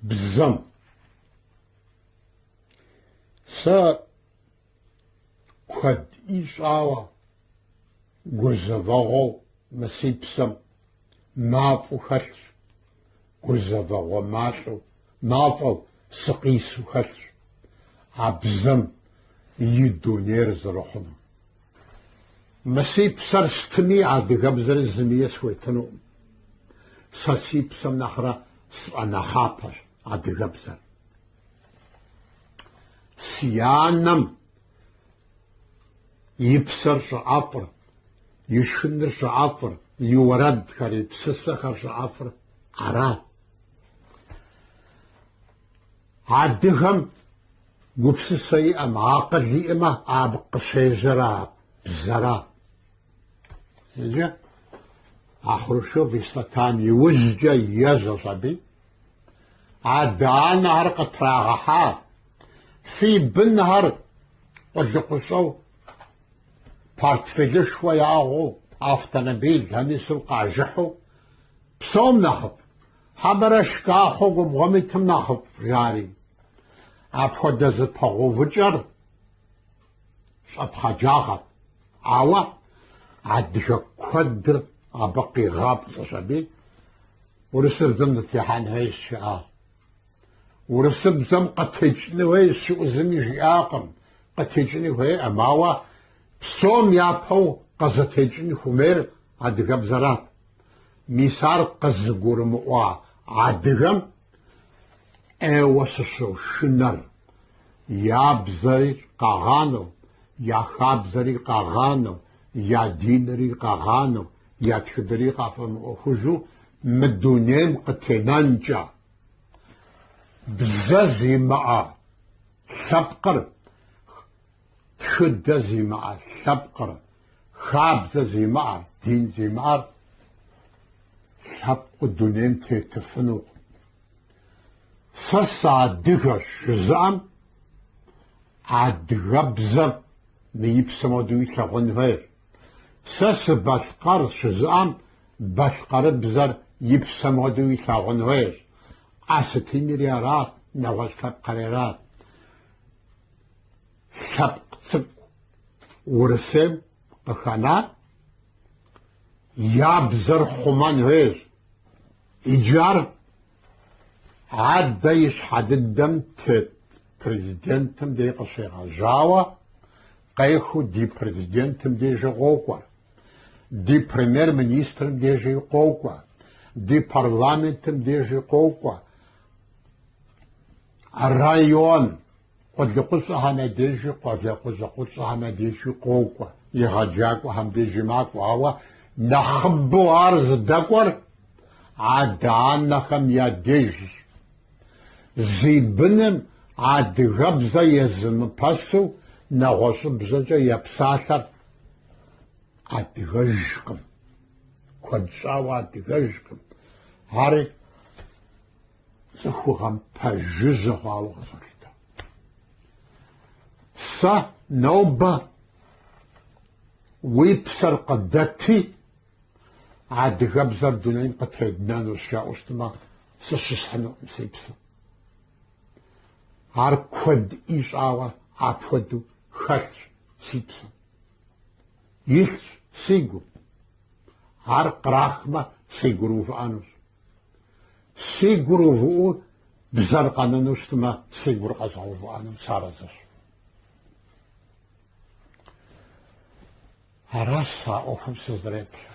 Бзэм. Сэ куэд ищӏауэ гузэвэгъуэу мы си псэм мафӏу хэлъщ, гузэвэгъуэ малӏэу, мафӏэу сыкъису хэлъщ а бзэм и дунейр зэрыхъунум. Мы си псэр стыми адыгэбзэри зыми схуетынукъым. Сэ си псэм нэхърэ сфӏэнэхъапэщ адыгэбзэр. Си анэм и псэр щӏыӏэфӏыр, и шхыныр щӏыӏэфӏыр, и уэрэдхэр, и псысэхэр щӏыӏэфӏыр арат. Адыгэм гупсысэ иӏэм, акъыл иӏэмэ абы къыщежьэр а бзэра. Иджы а Хрущев и статам иужькӏэ ежьэщ аби. Адэ-анэхэр къытрагъэхьа, фи бынхэр къулыкъущӏэу, портфелышхуэ яӏыгъыу, автомобилхэм ису къажыхьу, псом нэхъыфӏ, Хьэмэрэ шкӏахъуэу губгъуэм итым нэхъыфӏ, жари. Апхуэдэ зэпэгъэувыкӏэр щӏэпхъаджагъэт. Ауэ адыгэ куэдыр абы къигъапцӏэщ аби урысыбзэм дытехьэн хуейщ жиӏащ. Урысыбзэм къытекӏыну хуейщ жиӏэу зыми жиӏакъым, къытекӏыну хуейӏым, ауэ псом япэу къызытекӏын хуейр адыгэбзэрат. Мис ар къызыгурымыӏуа адыгэм ӏейуэ сыщошынэр, я бзэри къагъанэу, я хабзэри къагъанэу, я динри къагъанэу, я тхыдэри къафӏэмыӏуэхужу мы дунейм къытенэнкӏэ. Бзэ зимыӏэ лъэпкъыр Тхыдэ зимыӏэ лъэпкъыр, хабзэ зимыӏэ, дин зимыӏэр лъэпкъыу дунейм тетыфынукъым. Сэ сыадыгэщ жызыӏэм адыгэбзэр мы и псэм хуэдэу илъэгъуэн хуейщ. Сэ сыбалъкъэрщ жызыӏэм балъкъэрыбзэр и псэм хуэдэу илъэгъуэн хуейщ. Осетинри арат, нэгъуэщӏ лъэпкъри арат. лъэпкъ цӏыкӏу Урысейм къыхэнар я бзэр хъумэн хуейщ. Иджы ар адэ и щхьэ дыдэм тет президентым дей къыщегъэжьауэ, къехыу ди президентым дежи къокӏуэ, ди премьер-министрым дежи къокӏуэ, ди парламентым дежи къокӏуэ, Район къулыкъущӏэхэм я дежи, къуажэ къулыкъущӏэхэм я дежи къокӏуэ, егъэджакӏуэхэм дежи макӏуэ, ауэ нэхъыбэу ар зыдэкӏуэр адэ-анэхэм я дежщ. Зи быным адыгэбзэ езымыпэсу нэгъуэщӏыбзэкӏэ епсалъэр адыгэжкъым, куэд щӏауэ адыгэжкъым. Ари Цӏыхугъэм пэжыжьэ хъуауэ къызолъытэ. Сэ нобэ уи псэр къыдэти, адыгэбзэр дунейм къытреднэнущ жаӏэу щытмэ, сыщысхьынукъым си псэм. Ар куэд ищӏауэ апхуэдэу хэлъщ си псэм. Илъщ си гум. Ар кърахмэ, си гур увыӏэнущ. Си гур увыӏэу бзэр къэнэну щытмэ, си гур къэзгъэувыӏэным сарэзыщ. Аращ сэ а ӏуэхум сызэреплъыр.